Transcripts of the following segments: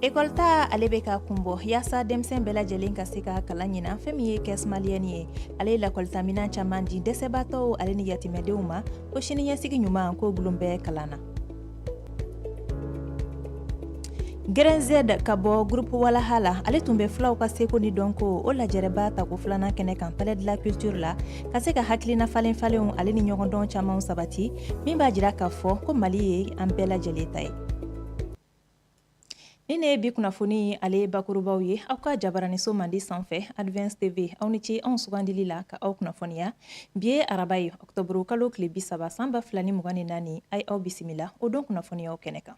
ekɔlita ale bɛ ka kun bɔ yaasa denmisɛn bɛɛ lajɛlen ka se ka kalan ɲinan fɛn min ye kɛs maliyɛni ye ale ye lakɔlitaminan caaman di dɛsɛbaatɔw ale ni yatimɛdenw ma ko siniɲɛsigi ɲuman k'o bulon bɛ kalan na grɛnzɛd ka bɔ gurupu walaha la ale tun bɛ fulaw ka seko ni dɔnko o lajɛrɛba tako filanan kɛnɛ kan palais de la culture la ka se ka hakilina falen falenw ale ni ɲɔgɔndɔn caamanw sabati min b'a jira k'a fɔ ko mali ye an bɛɛ lajɛlen ta ye Nin de ye bi kunnafoni ale bakurubaw ye aw ka jabaraniso mandi sanfɛ advance tv aw ni ce anw sugandili la ka aw kunnafoniya bi ye araba ye ɔktɔburu kalo tile bi saba san ba fila ni mugan ni naani a aw bisimila o don kunnafoniya kɛnɛ kan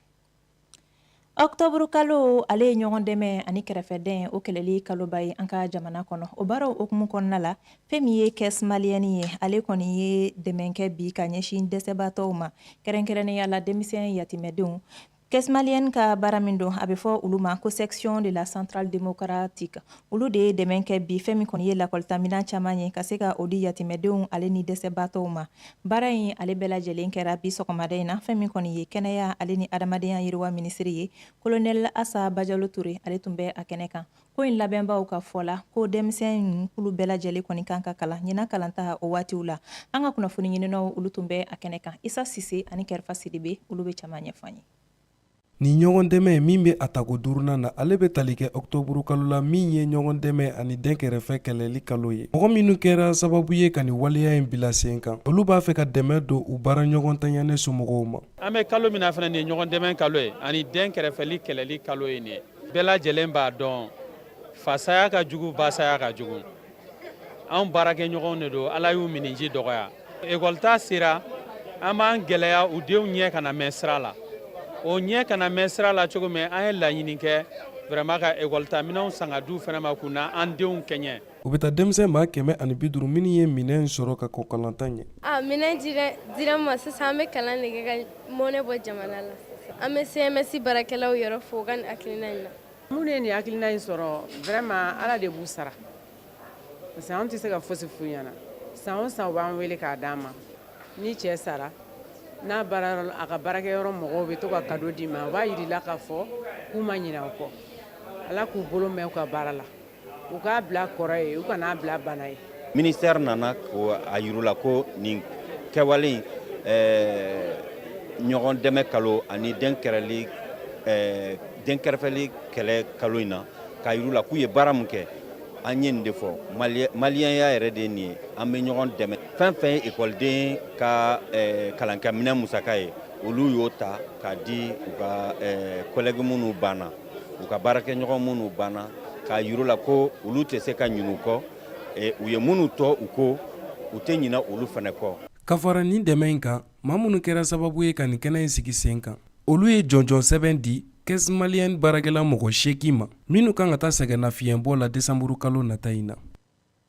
ɔktɔburu kalo ale ye ɲɔgɔn dɛmɛ ani kɛrɛfɛdɛn o kɛlɛli kaloba ye an ka jamana kɔnɔ o baaraw hukumu kɔnɔna la fɛn min ye kɛs maliyɛni ye ale kɔni ye dɛmɛ kɛ bi ka ɲɛsin dɛsɛbaatɔw ma kɛrɛnkɛrɛnnenya la denmisɛn yatimɛdenw Kɛs maliyɛni ka baara min don a bɛ fɔ olu ma ko section de la centrale démocratique olu de ye dɛmɛ kɛ bi fɛn min kɔni ye lakɔlitaminɛn caman ye ka se ka o di yatimɛdenw ale ni dɛsɛbaatɔw ma baara in ale bɛɛ lajɛlen kɛra bi sɔgɔmada in na fɛn min kɔni ye kɛnɛya ale ni adamadenya yiriwa minisiri ye kolonɛli asa bajalo ture ale tun bɛ a kɛnɛ kan ko in labɛnbaaw ka fɔ la ko denmisɛn kulu bɛɛ lajɛlen kɔni kan ka kalan ɲinan kalanta o waatiw la an ka kunnafoni ɲininaw olu tun bɛ a kɛnɛ kan isa sise ani kɛrɛfa sidibe olu bɛ caman ɲɛfɔ an ye Nin ɲɔgɔn dɛmɛ min bɛ a tako duurunan na ale bɛ tali kɛ ɔktɔburu kalo la min ye ɲɔgɔn dɛmɛ ani dɛn kɛrɛfɛ kɛlɛli kalo ye mɔgɔ minnu kɛra sababu ye ka nin waleya in bila sen kan olu b'a fɛ ka dɛmɛ don u baara ɲɔgɔn tanyane somɔgɔw ma an bɛ kalo min na fana nin ye ɲɔgɔn dɛmɛ kalo ye ani dɛn kɛrɛfɛli kɛlɛli kalo ye nin ye bɛɛ lajɛlen b'a dɔn fasaya ka jugu basaya ka jugu anw baarakɛɲɔgɔnw de don ala y'u miniji dɔgɔya ekɔlita sera an b'an gɛlɛya u denw ɲɛ kana mɛn sira la o ɲɛ kana mɛn sira la cogo min an ye laɲini kɛ vraiment ka ekɔlita minɛnw san k'a d'u fana ma k'u n'an denw kɛɲɛ u bɛ taa denmisɛn maa kɛmɛ ani bi duuru minnu ye minɛn sɔrɔ ka kɔn kalanta ɲɛ a minɛn dira n ma sisan an bɛ kalan de kɛ ka mɔnɛ bɔ jamana la an bɛ cms baarakɛlaw yɛrɛ fo u ka nin hakilina in na minnu ye nin hakilina in sɔrɔ vraiment ala de b'u sara parce que an tɛ se ka fosi f'u ɲɛna san o san u b'an wele k'a d'an ma n'i cɛ sara n'a baara a ka baarakɛyɔrɔ mɔgɔw bɛ to ka kado d'i ma u b'a yir'i la k'a fɔ k'u ma ɲinɛ u kɔ ala k'u bolo mɛn u ka baara la u k'a bila kɔrɔ ye u kan'a bila bana ye minisiri nana k'a yira ko nin kɛwale ɲɔgɔn dɛmɛ kalo ani dɛn kɛrali dɛn kɛrɛfɛli kɛlɛ kalo in na k'a yira k'u ye baara min kɛ an ye nin de fɔ maliyɛnya yɛrɛ de nin ye an bɛ ɲɔgɔn dɛmɛ fɛn fɛn ye ekɔliden ka kalankɛminɛn musaka ye olu y'o ta k'a di u ka collègue minnu banna u ka baarakɛɲɔgɔn minnu banna k'a yir'u la ko olu tɛ se ka ɲinɛ u kɔ e, u ye minnu to u kɔ u tɛ ɲinɛ olu fana kɔ ka fara nin dɛmɛ in kan maa minnu kɛra sababu ye ka nin kɛnɛ in sigi sen kan olu ye jɔnjɔn sɛbɛn di caisse malienne baarakɛla mɔgɔ seegin ma minnu kan ka taa sɛgɛnnafiɲɛbɔ la desanburukalo nata in na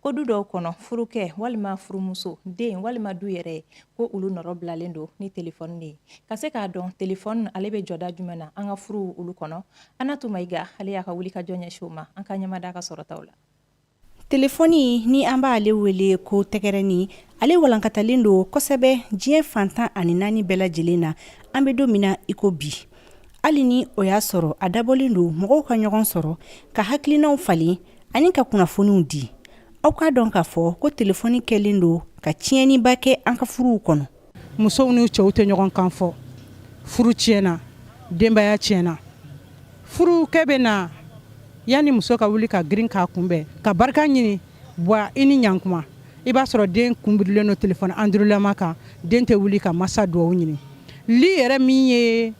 ko du dɔw kɔnɔ furukɛ walima furumuso den walima du yɛrɛ ko olu nɔrɔ bilalen don ni telefɔni de ye ka se k'a dɔn telefɔni ale bɛ jɔda jumɛn na an ka furuw olu kɔnɔ Anatu Mayiga ale y'a ka wulikajɔ ɲɛsin o ma an ka ɲɛmada ka sɔrɔtaw la telefɔni ni an b'ale wele ko tɛgɛrɛni ale walankatalen don kosɛbɛ diɲɛ fan tan ani naani bɛɛ lajɛlen na an bɛ don min na iko bi hali ni o y'a sɔrɔ a dabɔlen don mɔgɔw ka ɲɔgɔn sɔrɔ ka hakilinaw falen ani ka kunnafoniw di aw k'a dɔn k'a fɔ ko telefɔni kɛlen don ka tiɲɛniba kɛ an ka furuw kɔnɔ musow ni cɛw tɛ ɲɔgɔn kan fɔ furu tiɲɛna denbaya tiɲɛna furukɛ bɛ na yanni muso ka wuli ka girin k'a kunbɛn ka barika ɲini bwa i ni ɲa kuma i b'a sɔrɔ den kunbirilen don téléphone andurulama kan den tɛ wuli ka masa dugawu ɲini li yɛrɛ min ye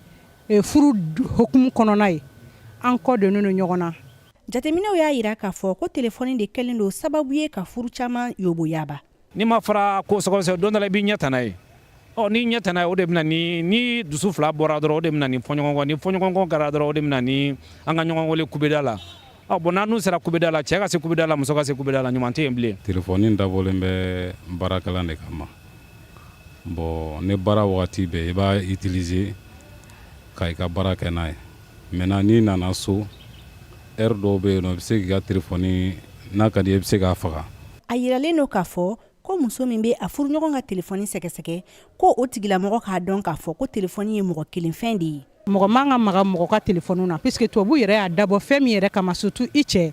e, furu hukumu kɔnɔna ye an kɔ donnen don ɲɔgɔn na jateminɛw y'a yira k'a fɔ ko telefɔni de kɛlen don sababu ye ka furu caman yoboyaba n'i ma fara ko sɛgɛsɛgɛ don dɔ la i b'i ɲɛ tana ye ɔ n'i ɲɛ tana o de bɛ na ni ni dusu fila bɔra dɔrɔn o de bɛ na ni fɔɲɔgɔnkɔ ni fɔɲɔgɔnkɔ kɛra dɔrɔn o de bɛ na ni an ka ɲɔgɔn wele kubeda la ɔ bon n'an sera kubeda la cɛ ka se kubeda la muso ka se kubeda la ɲuman tɛ yen bilen telefɔni dabɔlen bɛ baarakɛlan de kama bon ne baara wagati bɛɛ i b'a utiliser ka i ka baara kɛ n'a ye maintenant n'i nana so heure dɔw bɛ yen nɔ i bɛ se k'i ka telefɔni n'a ka d'i ye i bɛ se k'a faga a yiralen don k'a fɔ ko muso min bɛ a furuɲɔgɔn ka telefɔni sɛgɛsɛgɛ ko o tigilamɔgɔ k'a dɔn k'a fɔ ko telefɔni ye mɔgɔ kelenfɛn de ye mɔgɔ man ka maga mɔgɔ ka telefɔni na puisque tubabu yɛrɛ y'a dabɔ fɛn min yɛrɛ kama surtout i cɛ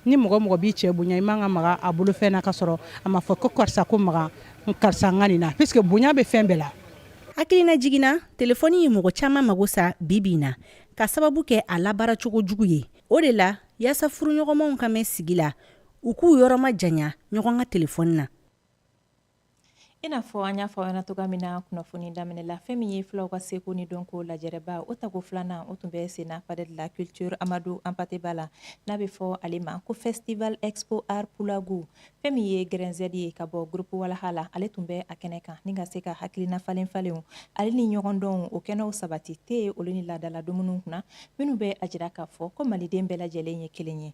ni mɔgɔ mɔgɔ b'i cɛ bonya i man ka maga a bolofɛn na ka sɔrɔ a ma fɔ ko karisa ko maga karisa n ka nin na puisque bonya bɛ fɛn bɛɛ la hakilinajigin na telefɔni ye mɔgɔ caman mago sa bi bi in na ka sababu kɛ a labaara cogo jugu ye o de la yaasa furuɲɔgɔnmaw ka mɛn sigi la u k'u yɔrɔ majanya ɲɔgɔn ka telefɔni na i n'a fɔ an y'a fɔ aw ɲɛna cogoya min na kunnafoni daminɛ la fɛn min ye filaw ka seko ni dɔnko lajɛrɛba o tago filanan o tun bɛ senna palais de la culture Amadou Hampâté Bâ la n'a bɛ fɔ ale ma ko festival expo art Pulagu fɛn min ye Grɛnzɛd ye ka bɔ groupe Walaha la ale tun bɛ a kɛnɛ kan ni ka se ka hakilina falen falenw ale ni ɲɔgɔndɔnw o kɛnɛw sabati tɛ olu ni laadala dumuniw kunna minnu bɛ a jira k'a fɔ ko maliden bɛɛ lajɛlen ye kelen ye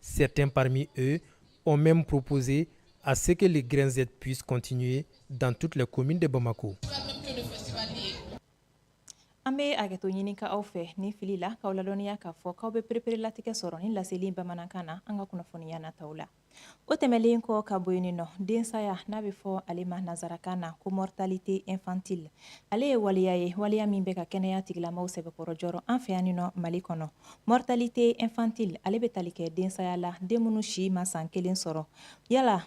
Certains parmi eux ont même proposé à ce que les grins Z puissent continuer dans toutes les communes de Bamako. an bɛ hakɛto ɲini ka aw fɛ ni fili la k'aw ladɔnniya k'a fɔ k'aw bɛ pereperelatigɛ sɔrɔ ni laseli bamanankan na an ka kunnafoniya nataw la o tɛmɛlen kɔ ka bɔ yen nɔ densaya n'a bɛ fɔ ale ma nazarakan na ko mortalité infantile ale ye waleya ye waleya min bɛ ka kɛnɛya tigilamaw sɛbɛkɔrɔ jɔrɔ an fɛ yan nɔ mali kɔnɔ Mortalité infantile ale bɛ tali kɛ densaya la den minnu si ma san kelen sɔrɔ yala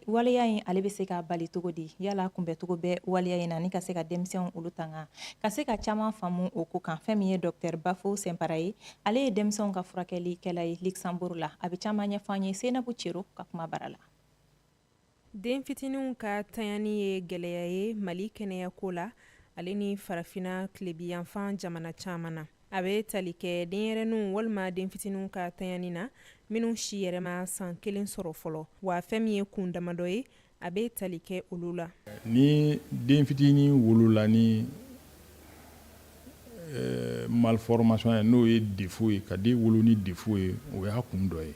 waleya in ale bɛ se ka bali cogo di yala kunbɛncogo bɛ waleya in na ni ka se ka denmisɛnw olu tanga ka se ka caman faamu o ko kan fɛn min ye docteur Bafo Simpara ye ale ye denmisɛnw ka furakɛlikɛla ye Luxembourg la a bɛ caman ɲɛfɔ an ye Senabu Cero ka kuma bara la den fitininw ka tanyani ye gɛlɛya ye mali kɛnɛyako la ale ni farafina tilebiyanfan jamana caman na a bɛ tali kɛ denyɛrɛninw walima den fitininw ka tanyani na minnu si yɛrɛ ma san kelen sɔrɔ fɔlɔ wa fɛn min ye kun damadɔ ye a bɛ tali kɛ olu la ni den fitinin wolola ni eh, malformation ye n'o ye défaut ye ka den wolo ni défaut ye o y'a kun dɔ ye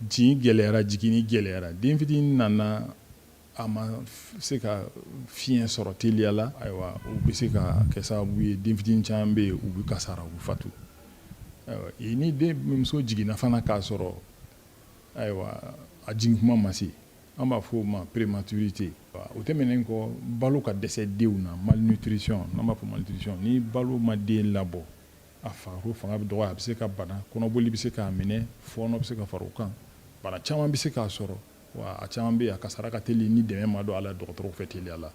Jigin gɛlɛyara jiginni gɛlɛyara den fitinin nana a ma se ka fiɲɛ sɔrɔ teliya la ayiwa o bɛ se ka kɛ sababu ye den fitinin caman bɛ yen u bɛ kasara u bɛ fatu ni den muso jiginna fana k'a sɔrɔ ayiwa a jigin kuma ma se an b'a fɔ o ma prématurité o tɛmɛnen kɔ balo ka dɛsɛ denw na malnutrition n'an b'a fɔ malnutrition ni balo ma den labɔ a farikolo fanga bɛ dɔgɔya a bɛ se ka bana kɔnɔboli bɛ se k'a minɛ fɔɔnɔ bɛ se ka fara o kan bana caman bɛ se k'a sɔrɔ wa a caman bɛ yen a kasara ka teli ni dɛmɛ ma don a la dɔgɔtɔrɔw fɛ teliya la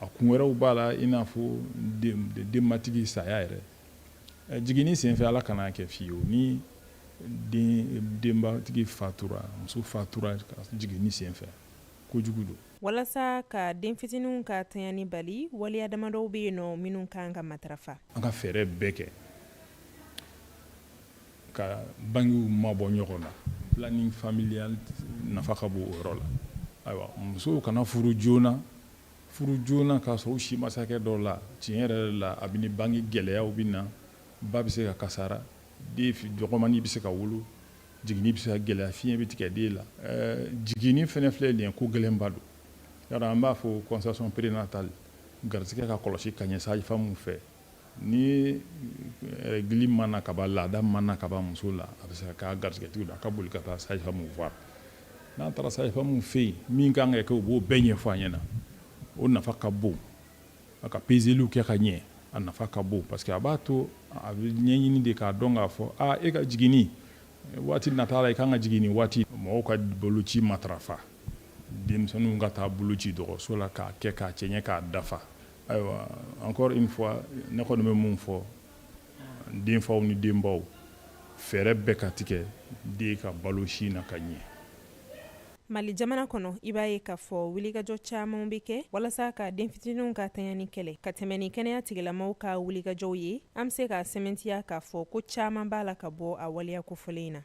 a kun wɛrɛw b'a la i n'a fɔ denbatigi saya yɛrɛ jiginni senfɛ ala kan'a kɛ fiyewu ni denbatigi fatura muso fatura jiginni senfɛ kojugu don walasa ka den fitininw ka tanyani bali waliya damadɔw bɛ yen nɔ minnu ka kan ka matarafa an ka fɛɛrɛ bɛɛ kɛ ka bangew mabɔ ɲɔgɔn na planning familial nafa ka bon o yɔrɔ la ayiwa musow kana furu joona furu joona k'a sɔrɔ u si ma se hakɛ dɔ la tiɲɛ yɛrɛ la a bɛ ni bange gɛlɛyaw bɛ na ba bɛ se ka kasara den dɔgɔmani bɛ se ka wolo Jiginni bɛ se ka gɛlɛya fiɲɛ bɛ tigɛ den la jiginni fana filɛ nin ye ko gɛlɛnba don yala an b'a fɔ consultation prénatale garisɛgɛ ka kɔlɔsi ka ɲɛ sage-femme fɛ ni règle mana ka ban laada mana ka ban muso la a bɛ se ka' garisɛgɛtigi la a ka boli ka taa sage-femme voir n'a taara sage-femme fɛ yen min ka kan ka kɛ o b'o bɛɛ ɲɛfɔ a ɲɛna o nafa ka bon a ka pezeliw kɛ ka ɲɛ a nafa ka bon parce que a b'a to a bɛ ɲɛɲini de k'a dɔn k'a fɔ aa e ka jiginni waati nata la i ka kan ka jigin nin waati mɔgɔw ka boloci matarafa denmisɛnninw ka taa boloci dɔgɔtɔrɔso la k'a kɛ k'a cɛɲɛ k'a dafa ayiwa encore une fois ne kɔni bɛ mun fɔ denfaw ni denbaw fɛɛrɛ bɛɛ ka tigɛ den ka balo sin na ka ɲɛ mali jamana kɔnɔ i b'a ye k'a fɔ wulikajɔ camanw be kɛ walasa ka den fitininw ka tanyani kɛlɛ ka tɛmɛ ni kɛnɛya tigilamaw ka wulikajɔw ye an be se k'a sɛmɛntiya k'a fɔ ko caaman b'a la ka bɔ a waleya kofɔlen in na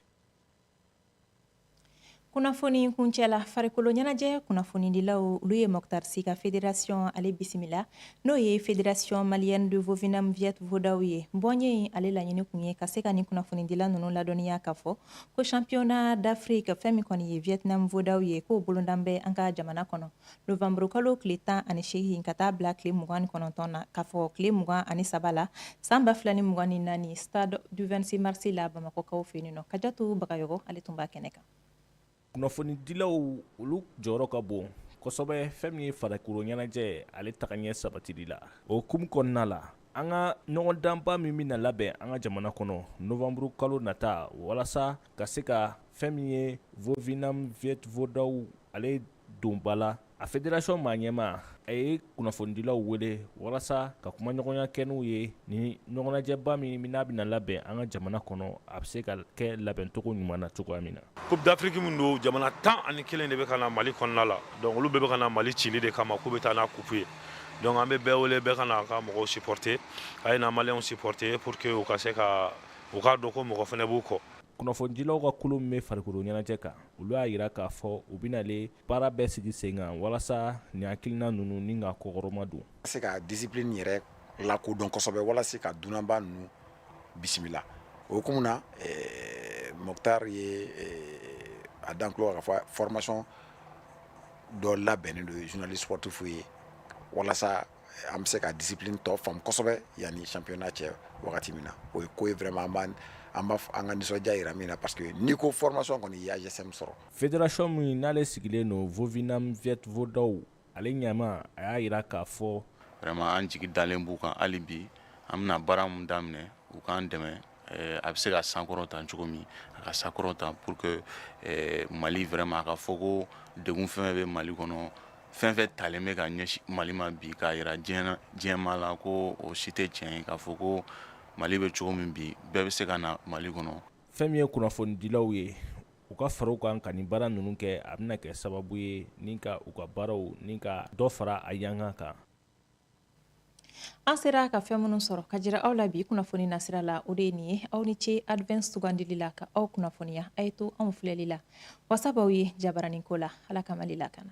kunnafoni kuncɛ la farikolo ɲɛnajɛ kunnafonidilaw olu ye Mɔktar Si ka federasiyɔn ale bisimila n'o ye fédération malienne de Vovinam Viet Vo Dao ye bɔnye in ale laɲini kun ye ka se ka nin kunnafonidila ninnu ladɔnniya k'a fɔ ko championnat d'Afrique fɛn min kɔni ye Vietnam Vo Dao ye k'o bolodalen bɛ an ka jamana kɔnɔ novembre kalo tile tan ani seegin ka taa bila tile mugan ni kɔnɔntɔn na k'a fɔ tile mugan ani saba la san ba fila ni mugan ni naani stade du 26 mars la bamakɔkaw fɛ yen nɔ Kajatu Bagayɔgɔ ale tun b'a kɛnɛ kan kunnafonidilaw olu jɔyɔrɔ ka bon kosɛbɛ fɛn min ye farikolo ɲɛnajɛ ale tagaɲɛ sabatili la o hukumu kɔnɔna la an ka ɲɔgɔndanba min bɛna labɛn an ka jamana kɔnɔ novanburu kalo nata walasa ka se ka fɛn min ye Vovinam Viet Vo Dao ale don ba la a federasiɔn maa ɲɛmaa a ye kunnafonidilaw wele walasa ka kumaɲɔgɔnya kɛ n'u ye ni ɲɔgɔnnajɛba min min n'a bɛna labɛn an ka jamana kɔnɔ a bɛ se ka kɛ labɛncogo ɲuman na cogoya min na coupe d'Afrique min don jamana tan ani kelen de bɛ ka na mali kɔnɔna la donc olu bɛɛ bɛ ka na mali cili de kama k'u bɛ taa n'a kupu ye donc an bɛ bɛɛ wele bɛɛ ka na ka mɔgɔw siporote a ye na maliyɛnw siporote pour que u ka se ka u k'a dɔn ko mɔgɔ fana b'u kɔ kunnafonidilaw ka kulu min bɛ farikolo ɲɛnajɛ kan olu y'a jira k'a fɔ u bɛn'ale baara bɛɛ sigi sen kan walasa ni hakilina ninnu ni ka kɔkɔrɔmadon ka se ka discipline yɛrɛ lakodɔn kosɛbɛ walasa ka dunanba ninnu bisimila o hukumu na Mɔktar ye a da an tulo kan k'a fɔ formation dɔ labɛnnen don journalistes sportifs ye walasa an bɛ se ka discipline tɔ faamu kosɛbɛ yanni championnat cɛ wagati min na o ye ko ye vraiment an ka nisɔndiya jira min na parce que n'i ko formation kɔni i y'AJSM sɔrɔ Fédération min n'ale sigilen don Vovinam Viet Vo Dao ale ɲɛmaa a y'a jira k'a fɔ vraiment an jigi dalen b'u kan hali bi an bɛna baara min daminɛ u k'an dɛmɛ eh, a bɛ se ka sankɔrɔta cogo min a ka sankɔrɔta pour que eh, Mali vraiment a ka fɔ ko degun fɛn bɛ Mali kɔnɔ fɛn fɛn talen bɛ ka ɲɛsin Mali ma bi k'a jira diɲɛ diɲɛmaa la ko o si tɛ tiɲɛ ye k'a fɔ ko Mali bɛ cogo min bi bɛɛ bɛ se ka na Mali kɔnɔ fɛn min ye kunnafonidilaw ye u ka fara u kan ka nin baara ninnu kɛ a bɛna kɛ sababu ye ni ka u ka baaraw ni ka dɔ fara a yanka kan an sera ka fɛn minnu sɔrɔ ka jira aw la bi kunnafoni nasira la o de ye nin ye aw ni ce advance sugandili la ka aw kunnafoniya a ye to anw filɛli la wasa b'aw ye jabaranin ko la ala ka mali lakana